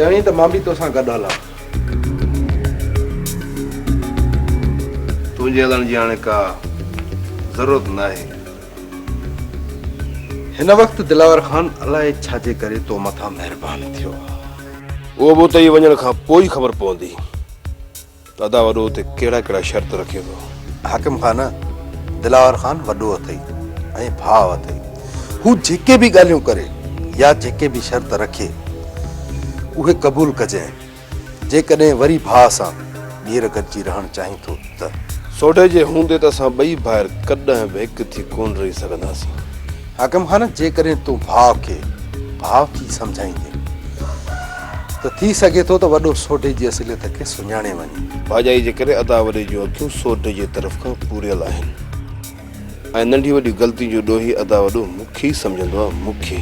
چوين ته مان به توسان گڏ هلان. تنهنجي هلڻ جي هاڻي ڪا ضرورت ناهي. هن وقت دلاور خان الائي ڇا جي ڪري تو مٿان مهربان ٿيو آهي. اهو به اتي ئي وڃڻ کان پوء ئي خبر پوندي ته ادا وڏو اتي ڪهڙا ڪهڙا شرط رکي ٿو. حاڪم خان دلاور خان وڏو اٿئي ۽ ڀاء اٿئي هو جيڪي به ڳالهيون ڪري يا جيڪي به شرط رکي اهي قبول ڪجانء. جيڪڏهن وري ڀاء سان ٻيهر گڏجي رهڻ چاهين ٿو ته. سوڍي جي هوندي ته اسان ٻئي ڀائر ڪڏهن به هڪ ٿي ڪونه رهي سگهنداسين. حاڪم خان، جيڪڏهن تون ڀاء کي ڀاء ٿي سمجهائيندين ته ٿي سگهي ٿو ته وڏو سوڍي جي اصليت کي سڃاڻي وڃي. ڀاڄائي جي ڪري ادا وڏي جون اکيون سوڍي جي طرف کان پوريل آهن. ۽ ننڍيون وڏيون غلطيون جو ڏوهي ادا وڏو مکي سمجهندو آ مکي.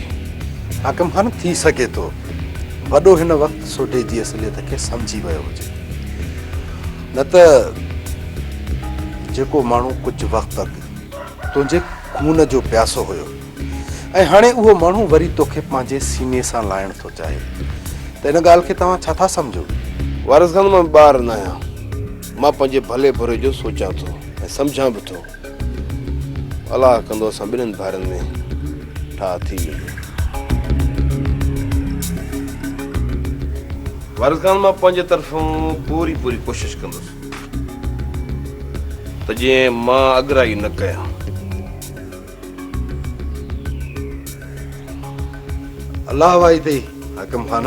حاڪم خان ٿي سگهي ٿو وڏو هن وقت سوڍي جي اصليت کي سمجهي ويو هجي نه ته جيڪو ماڻهو ڪجهه وقت اڳ تنهنجي خون جو پياسو هيو ۽ هاڻي اهو ماڻهو وري توکي پنهنجي سيني سان لائڻ ٿو چاهي ته ان ڳالهه کي توهان ڇا ٿا سمجهو. وارث خان مان ٻار ناهيان. مان پنهنجي ڀلي بري جو سوچان ٿو ۽ سمجهان به ٿو. الاهه ڪندو اسان ٻنهن ڀائرن ۾ ٺاهه ٿي ويندي. وارث خان مان پنهنجي طرفون پوري پوري ڪوشش ڪندس ته جئين مان اڳرائي نه ڪيان. الله وائي اٿئي حاڪم خان.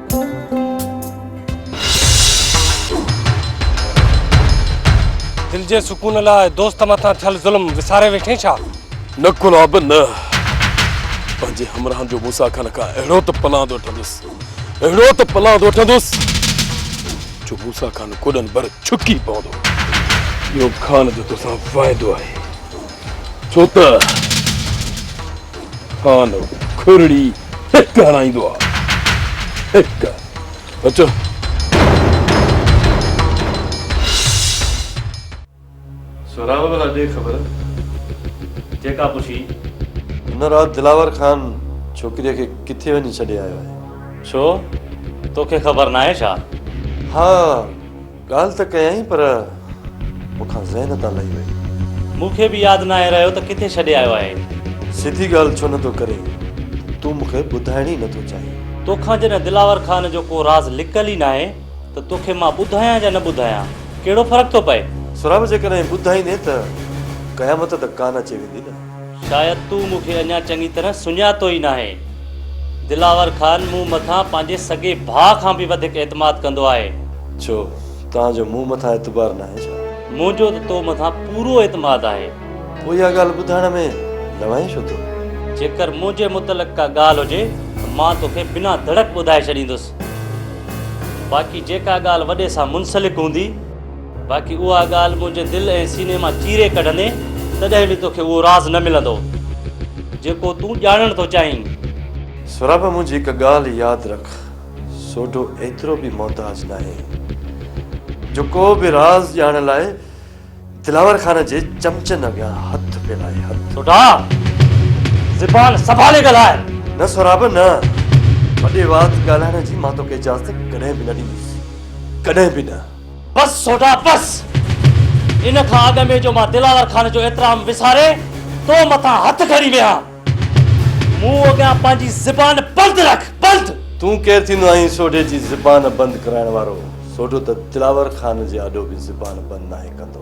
دل جي سڪون لاء دوست مٿان ٿيل ظلم وساري ويٺين ڇا؟ نه گلاب نه. پنهنجي همراهن جو مون سان کن کان اهڙو ته پلاند وٺندس، اهڙو ته پلاند وٺندس جو مون سان کن ڪوڏن ڀر ڇڪي پوندو. اهو خان جو توسان وعدو آهي. ڇو ته ڪانه کورڙي هڪ هڻائيندو آ هڪ اچو سهراب ڀلا ڏي خبر جيڪا پڇي هن رات دلاور خان ڇوڪريء کي ڪٿي وڃي ڇڏي آيو آهي ڇو توکي خبر ناهي ڇا؟ ها ڳالهه ته ڪيائين پر مون کان ذهن تان لهي وئي. مون کي به ياد ناهي رهيو ته ڪٿي ڇڏي آيو آهين. سڌي ڳالهه ڇو نه ٿو ڪرين؟ تون مون کي ٻڌائڻ ئي نه ٿو چاهين. تو کان جڏهن دلاور خان جو ڪو راز لڪل ئي ناهي ته تو کي مان ٻڌايان جا نه ٻڌايان ڪهڙو فرق ٿو پئي؟ سهراب جيڪڏهن ٻڌائيندين ته قيامت ته ڪانه اچي ويندي نه. شايد تون مون کي اڃا چڱي طرح سڃاتو ئي ناهي. دلاور خان مون مٿان پنهنجي سڳي ڀاء کان به وڌيڪ اعتماد ڪندو آهي. ڇو؟ توهان جو مون مٿان اعتبار ناهي ڇا؟ منهنجو ته تو مٿان پورو اعتماد آهي. پوء اها ڳالهه ٻڌائڻ ۾ لوائين ڇو ٿو؟ جيڪر منهنجي متعلق ڪا ڳالهه هجي ته مان توکي بنا ڌڙڪ ٻڌائي ڇڏيندس. باقي جيڪا ڳالهه وڏي سان منسلڪ هوندي. باقي اها ڳالهه منهنجي دل ۽ سيني مان چيري ڪڍندين، تڏهن به توکي اهو راز نه ملندو، جيڪو تون ڄاڻڻ ٿو چاهين. سهراب منهنجي هڪ ڳالهه ياد رک، سوڍو ايترو به محتاج ناهي، جو ڪو به راز ڄاڻڻ لاء دلاور خان جي چمچن اڳيان هٿ ڦيلائي. هٿ. سوڍا! زبان سنڀالي ڳالهاء. نه سهراب نه، وڏي وات ڳالهائڻ جي مان توکي اجازت ڪڏهن به نه ڏيندس، ڪڏهن به نه. بس سوڍا بس! ان کان اڳ ۾ جو مان دلاور خان جو احترام وساري تو مٿان هٿ کڻي ويهان، مون اڳيان پنهنجي زبان بند رک، بند! تون ڪير ٿيندو آهين سوڍي جي زبان بند ڪرائڻ وارو؟ سوڍو ته دلاور خان جي آڏو به زبان بند ناهي ڪندو.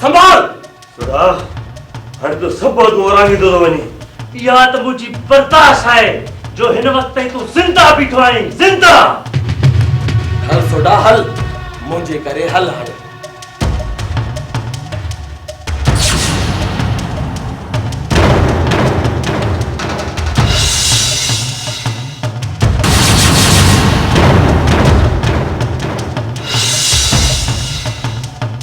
سنڀال! سوڍا، هاڻي تون سڀ عهدون اورانگهيندو ٿو وڃين. اها ته منهنجي برداشت آهي، جو هن وقت تائين تون زنده بيٺو آهين، زنده! هل سوڍا هل، منهنجي ڪري هل هاڻي.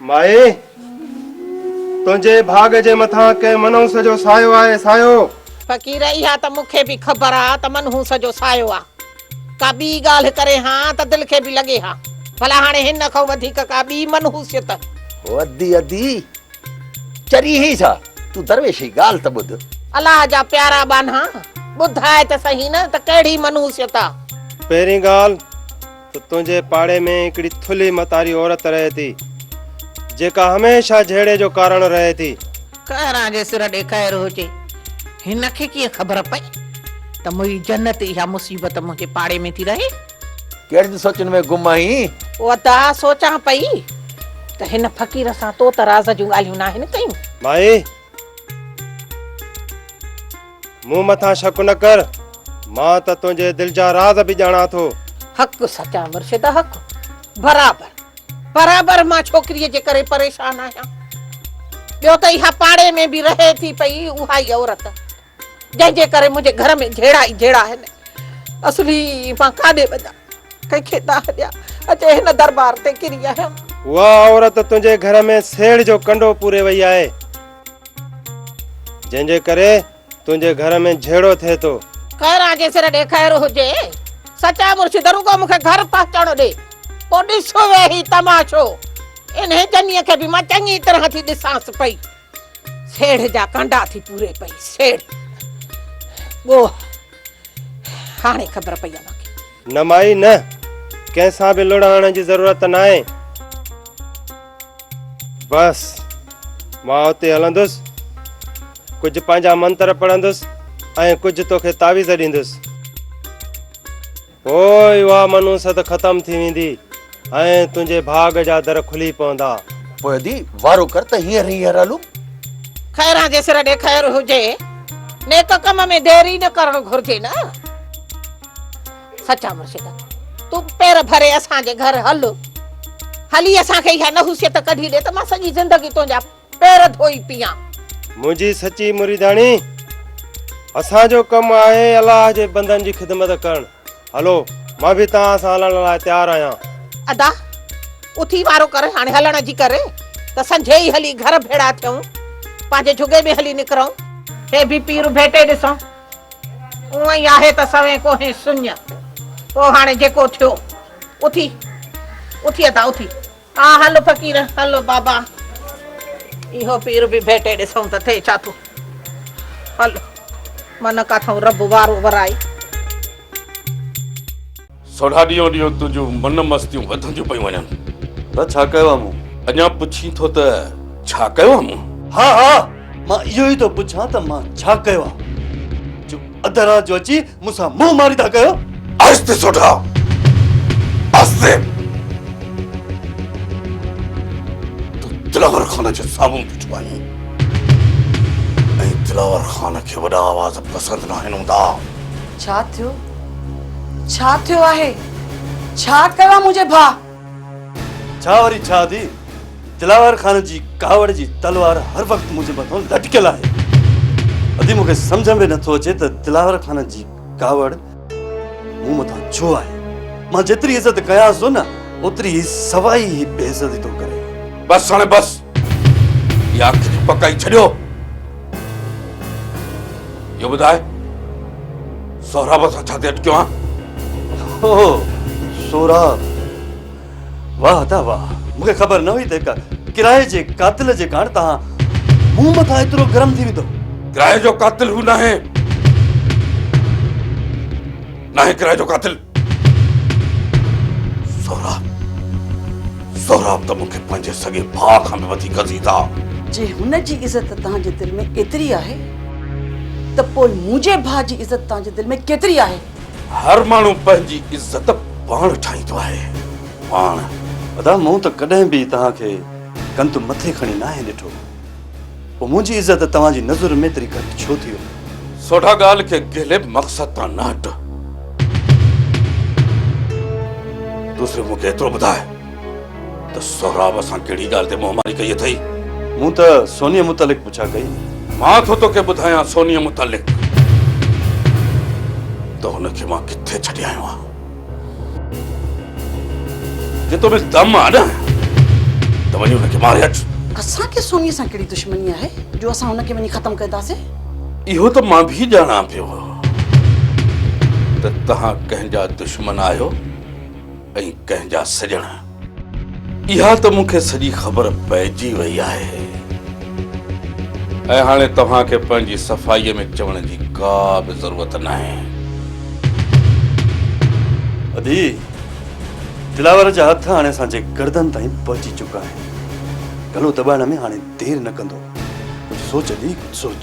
مائي! تنهنجي ڀاڳ جي مٿان ڪنهن منحوس جو سايو آهي، سايو! فقير، اها ته مون کي به خبر آ ته منحوس جو سايو آ. ڪا ٻي ڳالهه ڪرين ها ته دل کي به لڳي ها. ڀلا هاڻي هن کان وڌيڪ ڪا ٻي منحوسيت؟ او ادي، ادي! چري هي ڇا؟ تون درويش هي ڳالهه ته ٻڌ. الله جا پيارا ٻانها! ٻڌاء ته سهي نه ته ڪهڙي منحوسيت آ؟ پهرين ڳالهه ته تنهنجي پاڙي ۾ هڪڙي ٿلهي متاري عورت رهي ٿي، جيڪا هميشه جهيڙي جو ڪارڻ رهي ٿي. ڪهران جي سر ڏي قهر هجي، هن کي ڪيئن خبر پئي ته موئي جنت اها مصيبت منهنجي پاڙي ۾ ٿي رهي. ڪهڙين سوچن ۾ گم آهين؟ ادا، سوچان پئي ته هن فقير سان تو ته راز جون ڳالهيون ناهن ڪيون. مائي! مون مٿان شڪ نه ڪر، مان ته تنهنجي دل جا راز به ڄاڻان ٿو. حق سچا مرشد حق. برابر برابر مان ڇوڪريء جي ڪري پريشان آهيان. ٻيو ته اها پاڙي ۾ به رهي ٿي پئي اها ئي عورت، جنهن جي ڪري منهنجي گهر ۾ جهيڙا ئي جهيڙا آهن. اصلي مان ڪاڏي وڃان؟ ڪنهن کي داهه ڏيان، اچي هن دربار تي ڪري آهيان. اها عورت تنهنجي گهر ۾ سيڙهه جو ڪنڊو پوري وئي آهي، جنهن جي ڪري تنهنجي گهر ۾ جهيڙو ٿئي ٿو. خيران جي سر ڏي خير هجي، سچا مرشد رڳو مون کي گهر پهچڻ ڏي، پوء ڏس ويهي تماشو. انهيء جنيء کي به مان چڱي طرح ٿي ڏسانس پئي، سيڙهه جا ڪنڊا ٿي پوري پئي، سيڙهه، ڳوهه. هاڻي خبر پئي آ باقي. نه مائي نه ڪنهن سان به لڙ هڻڻ جي ضرورت ناهي. بس مان اتي هلندس ڪجهه پنهنجا منتر پڙهندس ۽ ڪجهه توکي تعويذ ڏيندس. پوء اها منحوست ختم ٿي ويندي ۽ تنهنجي ڀاڳ جا در کلي پوندا. پوء ادي وارو ڪر ته هينئر هينئر هلون. خيران جي سر ڏي خير هجي. نيڪ ڪم ۾ دير ئي نه ڪرڻ گهرجي نه. سچا مرشد! تون پير ڀري اسان جي گهر هل. هلي اسان کي اها نحوسيت ڪڍي ڏي ته مان سڄي زندگي تنهنجا. پير ڌوئي پيئان. منهنجي سچي مريداڻي، اسان جو ڪم آهي الله جي بندن جي خدمت ڪرڻ. هلو، مان به توهان سان هلڻ لاء تيار آهيان. ادا، اٿي وارو ڪر، هاڻي هلڻ جي ڪر ته سنجهي ئي هلي گهر ڀيڙا ٿيون، پنهنجي جهڳي ۾ هلي نڪرون. هي به پير ڀيٽي ڏسون. اونء ئي آهي ته سوين ڪوهين سڃ. پوء هاڻي جيڪو ٿيو. اٿي، اٿي ادا، اٿي. آ هل فقير هل بابا اهو پير به ڀيٽي ڏسون ته ٿئي ڇا ٿو هل من ڪاٿئون رب وارو ورائي. سوڍا ڏينهون ڏينهن تنهنجون من مستيون وڌنديون پيون وڃن. ته ڇا ڪيو آ مون؟ اڃا پڇين ٿو ته ڇا ڪيو آ مون؟ ها ها مان اهو ئي ٿو پڇان ته مان ڇا ڪيو آ جو اڌ رات جو اچي مون سان منهن ماري ٿا ڪيو؟ آهستي سوڍا، آهستي. تون دلاور خان جي سامهون بيٺو آهين ۽ دلاور خان کي وڏا آواز پسند ناهن هوندا. ڇا ٿيو؟ ڇا ٿيو آهي؟ ڇا ڪيو آهي منهنجي ڀاء؟ ڇا وري ڇا ڌي، دلاور خان جي ڪاوڙ جي تلوار هر وقت منهنجي مٿان لٽڪيل آهي. ادي مون کي سمجهه ۾ نٿو اچي ته دلاور خان جي ڪاوڙ مون مٿان ڇو آهي. مان جيتري عزت ڪيانس ٿو نه، اوتري هي سوائي ئي بي عزتي ٿو ڪري. بس هاڻي بس. يا اک جي پڪائي ڇڏيو. اهو ٻڌاء سهراب سان ڇا تي اٽڪيو آن؟ اوه سهراب واهه ادا واهه مون کي خبر نه هئي ته هڪ ڪرائي جي قاتل جي ڪاڻ توهان مون مٿان ايترو گرم ٿي ويندو. ڪرائي جو قاتل هو ناهي. ناهي ڪرائي جو قاتل. سهراب سهراب ته مون کي پنهنجي سڳي ڀاء کان به وڌيڪ عزيز آ. جي هن جي عزت توهان جي دل ۾ ايتري آهي ته پوء منهنجي ڀاء جي عزت توهان جي دل ۾ ڪيتري آهي؟ هر ماڻهو پنهنجي عزت پاڻ ٺاهيندو آهي. پاڻ. ادا مون ته ڪڏهن به توهان کي ڪنڌ مٿي کڻي ناهي ڏٺو. پوء منهنجي عزت توهان جي نظرن ۾ ايتري گهٽ ڇو ٿي وئي؟ سوڍا ڳالهه کي غلب مقصد تان نه هٽ. تون صرف مون کي ايترو ٻڌاء ته سهراب سان ڪهڙي ڳالهه تي منهن ماري ڪئي اٿئي؟ مون ته سونيء متعلق پڇا ڪئي. مان ٿو توکي ٻڌايان سونيء متعلق ته هن کي مان ڪٿي ڇڏي آيو آهيان. جي تو ۾ دم آ نه ته وڃي هن کي ماري اچ. اسان کي سوني سان ڪهڙي دشمني آهي جو اسان هن کي وڃي ختم ڪنداسين. اهو ته مان به ڄاڻان پيو ته توهان ڪنهن جا دشمن آهيو ۽ ڪنهن جا سڄڻ. اها ته مون کي سڄي خبر پئجي وئي آهي ۽ هاڻي توهان کي پنهنجي صفائيء ۾ چوڻ جي ڪا به ضرورت ناهي. ادي، دلاور جا هٿ هاڻي اسان جي گردن تائين پهچي چڪا آهن. گلو دٻائڻ ۾ هاڻي دير نه ڪندو. ڪجهه سوچ ادي، ڪجهه سوچ.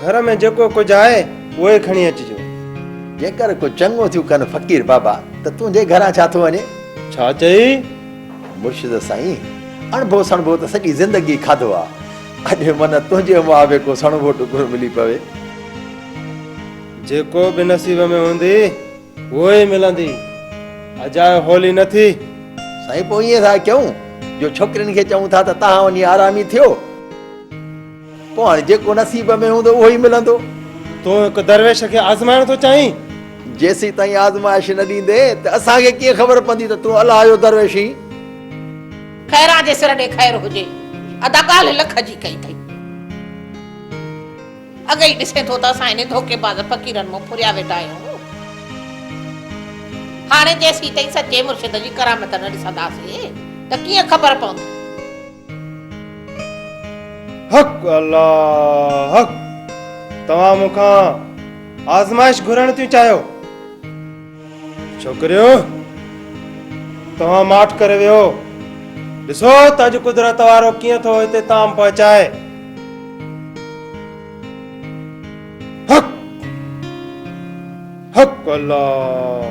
گهر ۾ جيڪو ڪجهه آهي اهو ئي کڻي اچجو. جيڪر ڪو چڱو ٿيون ڪن فقير بابا ته تنهنجي گهران ڇا ٿو وڃي؟ ڇا چئي؟ مرشد سائين! اڻڀو سڻڀو ته سڄي زندگي کاڌو آ. اڄ من تنهنجي مئا به ڪو سڻڀو ٽڪرو ملي پوي. جيڪو به نصيب ۾ هوندي اهو ئي ملندي. اجاء هولي نه ٿي. سائين پوء ائين ٿا ڪيون جو ڇوڪرين کي چئون ٿا ته تهان وڃي آرامي ٿيو. پوء هاڻي جيڪو نصيب ۾ هوندو اهو ئي ملندو. تون هڪ درويش کي آزمائڻ ٿو چاهين؟ جيسيتائين آزمائش نه ڏيندين ته اسان کي ڪيئن خبر پوندي ته تون الله جو درويش هين؟ خيران جي سر ڏي خير هجي. ادا ڳالهه لک جي ڪئي اٿئي. اڳ ئي ڏسين ٿو ته اسان انهن ڌوڪيباز فقيرن مون ڦريا ويٺا آهيون. هاڻي جيسيتائين سچي مرشد جي ڪرامت نه ڏسنداسين ته ڪيئن خبر پوندي. حق الله حق توهان مون کان آزمائش گهرڻ ٿيون چاهيو ڇوڪريو توهان ماٺ ڪري ويو ڏسو ته اڄ قدرت وارو ڪيئن ٿو هتي تام پهچائي حق حق الله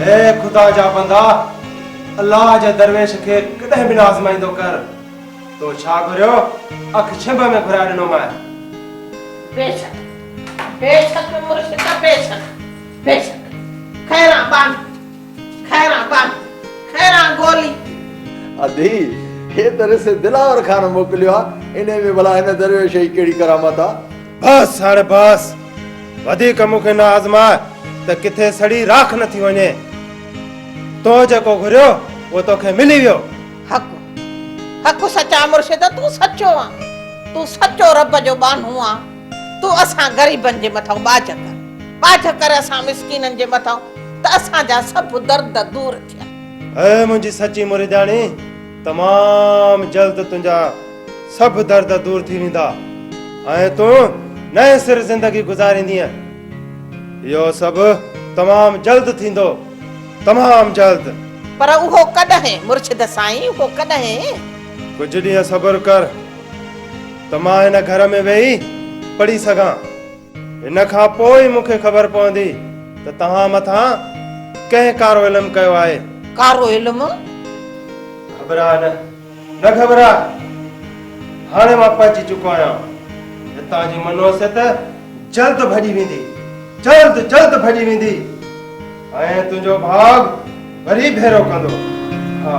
اي خدا جا بندا! الله جي درويش کي ڪڏهن به نه آزمائيندو ڪر. تو ڇا گهريو، اک ڇنڀ ۾ گهرائي ڏنومانء. بيشڪ، بيشڪ مرشد، بيشڪ، بيشڪ، خيران ٻانهي. خيران بان خيران گولي. ادي، هي ته رس دلاور خان موڪليو آ، انهي ۾ ڀلا هن درويش جي ڪهڙي ڪرامت آ؟ بس هاڻي بس، وڌيڪ مون کي نه آزماء ته ڪٿي سڙي راک نه ٿي وڃي. تو جيڪو گهريو، اهو توکي ملي ويو. حق حق سچ آ مرشد، تون سچو آن، تون سچو رب جو ٻانهو آن. تون اسان غريبن جي مٿان ٻاجهه ڪر، ٻاجهه ڪر اسان مسڪينن جي مٿان ته اسان جا سڀ درد دور ٿين. اي منهنجي سچي مريداڻي! تمام جلد تنهنجا سڀ درد دور ٿي ويندا ۽ تون نئين سر زندگي گذاريندينء. اهو سڀ تمام جلد ٿيندو، تمام جلد. پر اهو ڪڏهن مرشد سائين، اهو ڪڏهن؟ ڪجهه ڏينهن صبر ڪر. ته مان هن گهر ۾ ويهي پڙهي سگهان. ان کان پوء ئي مون کي خبر پوندي ته توهان مٿان ڪنهن ڪارو علم ڪيو آهي. ڪارو علم؟ گهٻراء نه، نه گهٻراء. هاڻي مان پهچي چڪو آهيان. هتان جي منحوسيت جلد ڀڄي ويندي، جلد جلد ڀڄي ويندي. ۽ تنهنجو ڀاڳ وري ڀيرو ڪندو. ها.